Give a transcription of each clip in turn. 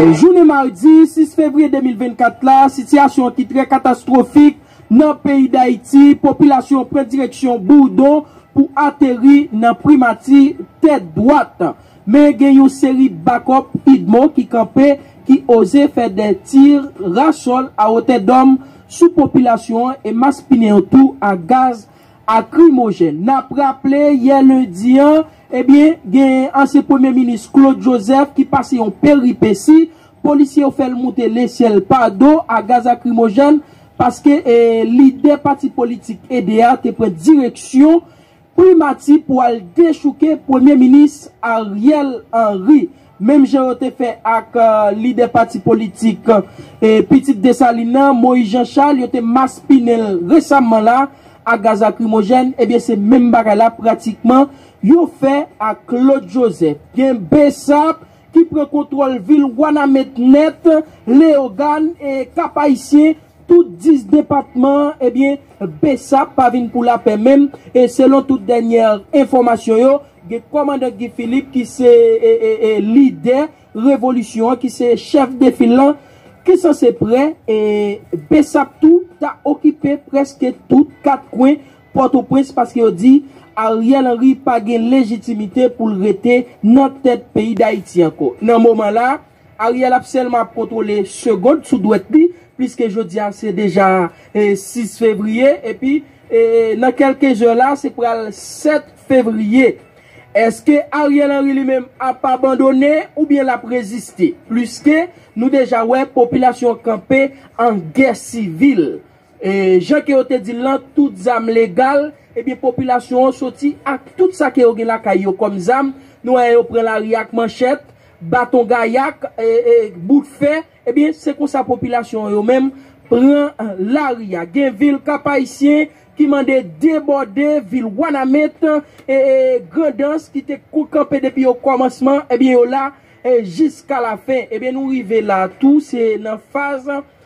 Jounen madi 6 fevriye 2024 la, sitiyasyon an ki trè katastwofik nan peyi Dayiti, popilasyon pran direksyon Bourdon pou ateri nan Primati tèt dwat. Men gen yon seri bakòp udmo ki kanpe, ki oze fè dè tir rasòl awotèdòm sou popilasyon an e maspinen yo tou ak gaz akrimojèn. N ap raple, yè lendi an, ebyen, gen ansyen premye minis Claude Joseph ki pase yon peripesi, polisye yo fè l moute lesyèl pa do a gaz akrimojèn paske lidè pati politik ede a te pran direksyon primati pou al dechouke premye minis Ariel Henry. Menm jan yo te fè ak lidè pati politik Pitit Desalin nan, Moyiz Janchal, yo te maspinen l resamman la ak gaz lakrimojèn, ebyen se menm bagay la pratikman yo fè ak Klod Jozèf. Gen bsap ki pran kontwòl vil Wanament nèt, Leyogàn, Kap Ayisyen, Tout 10 depatman an ebyen bsap pa vin pou lapè menm e selon tout dènyè enfòmasyon yo gen kòmandan Guy Philippe ki se lidè revolisyon an ki se chèf de fil lan ki sanse prè e bsap tou ta okipe prèske tout 4 kwen pòtoprens paske yo di Ariel Henry pa gen lejitimite pou l rete nan tèt peyi dayiti ankò nan moman la. Ariel ap sèlman ap kontwole segond sou dwèt li pliske jodi a se deja 6 fevriye epi nan kelke zè la se pral 7 fevriye eske Ariel Henry li menm ap abandone oubyen lap reziste pliske nou deja wè popilasyon an kanpe an gè sivil jan ke yo te dil lan tout zam legal ebyen popilasyon an soti ak tout sa ke yo gen lakay yo kòm zam nou wè yo pran lari ak manchèt baton gayak, bout fè, ebyen se konsa popilasyon an yo menm pran lari a. Gen vil Kap-Ayisyen ki mande debòde, vil Wanament, Grandans ki te kanpe depi okòmansman, ebyen yo la jiska lafen. Ebyen nou rive la tou, se nan faz.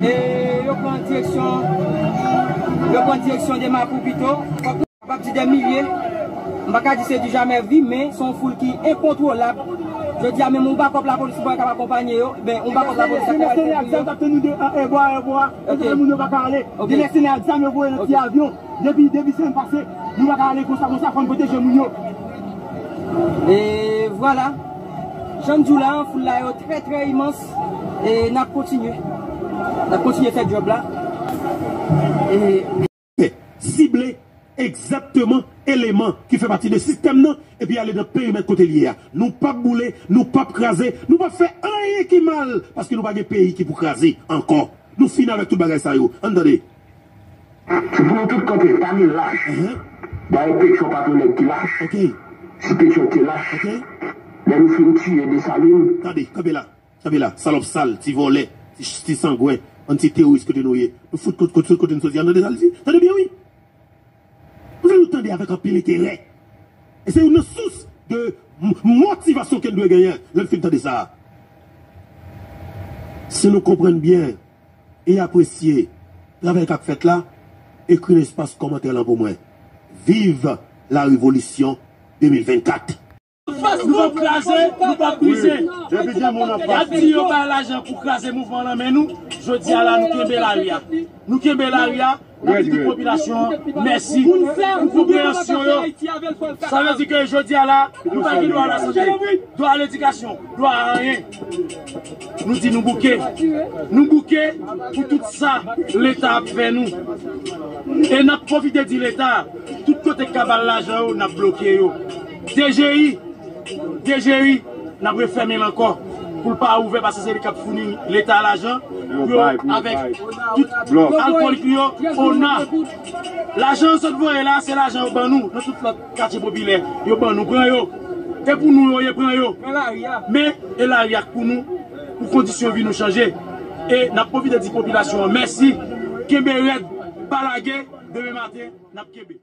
E yo pran direksyon, yo pran direksyon de Mapou pito. M pap di dè milye, m pa ka di se di jamè vi, men se yon foul ki enkontwolab. Jodi a menm yon bakòp lapolis ki pou al kab akonpanye yo, ben yon bakòp lapolis ak mèsenè ak zam k ap tann yo de an èbò a èbò a, kote ke moun yo pa ka ale. Gen mèsenè ak zam yo voye nan ti avyon. Depi depi sèm pase nou paka ale konsa konsa fòn pwoteje moun yo. E vwala, jan m di w la, foul la yo trè trè imans e n ap kontinye. N ap kontinye fè djòb la e. Sible egzakteman eleman ki fè pati de sistèm nan epi ale nan perimèt kote l ye a. Nou p ap boule, nou p ap kraze, nou p ap fè anyen ki mal paske nou pa gen peyi ki pou kraze ankò. Nou fini avèk tout bagay sa yo. An n tande. Se pou yo tout kanpe pa gen lach dayè petyon pa ton nèg ki lach si petyon te lach lè nou fin tiye desalin. Tande, kanpe la, kanpe la, salòp sal, ti vòlè, ti sangwen, bann ti teworis kote nou ye, nou fout kont sot kote nou soti an tande sa li di, tande byen wi, m vle nou tande avèk anpil enterè e se youn nan sous de motivasyon ke n dwe genyen lè n fin tande sa a, si nou konprann byen e apresye travay kap fèt la ekri nan espas kòmantè lan pou mwen viv la revolisyon 2024. Nou pap kraze nou pap brize yap di yo bay lajan pou kraze mouvman lan men nou jodi a la nou kenbe lari a nou kenbe lari a. Nap di tout popilasyon an mèsi pou konpreyansyon yo. Sa vle di ke jodi a la, nou pa gen dwa a la sante, dwa a ledikasyon, dwa a anyen. Nou di nou bouke. Nou bouke pou tout sa Leta ap fè nou. E nap pwofite di Leta, tout kote kab al lajan yo, nap bloke yo. Dgi, dgi, n ap refèmen l ankò pou l pa ouvè pase se li k ap founi leta lajan pou yo avèk tout alkòlik li yo, ona. Lajan yo sot voye la se lajan yo ban nou nan tout lòt katye popilè yo ban nou pran yo e pou nou yo ye pran yo men e lari a k pou nou pou kondisyon vi nou chanje e n ap pwofite di popilasyon an mèsi kenbe rèd pa lage demen maten n ap kenbe.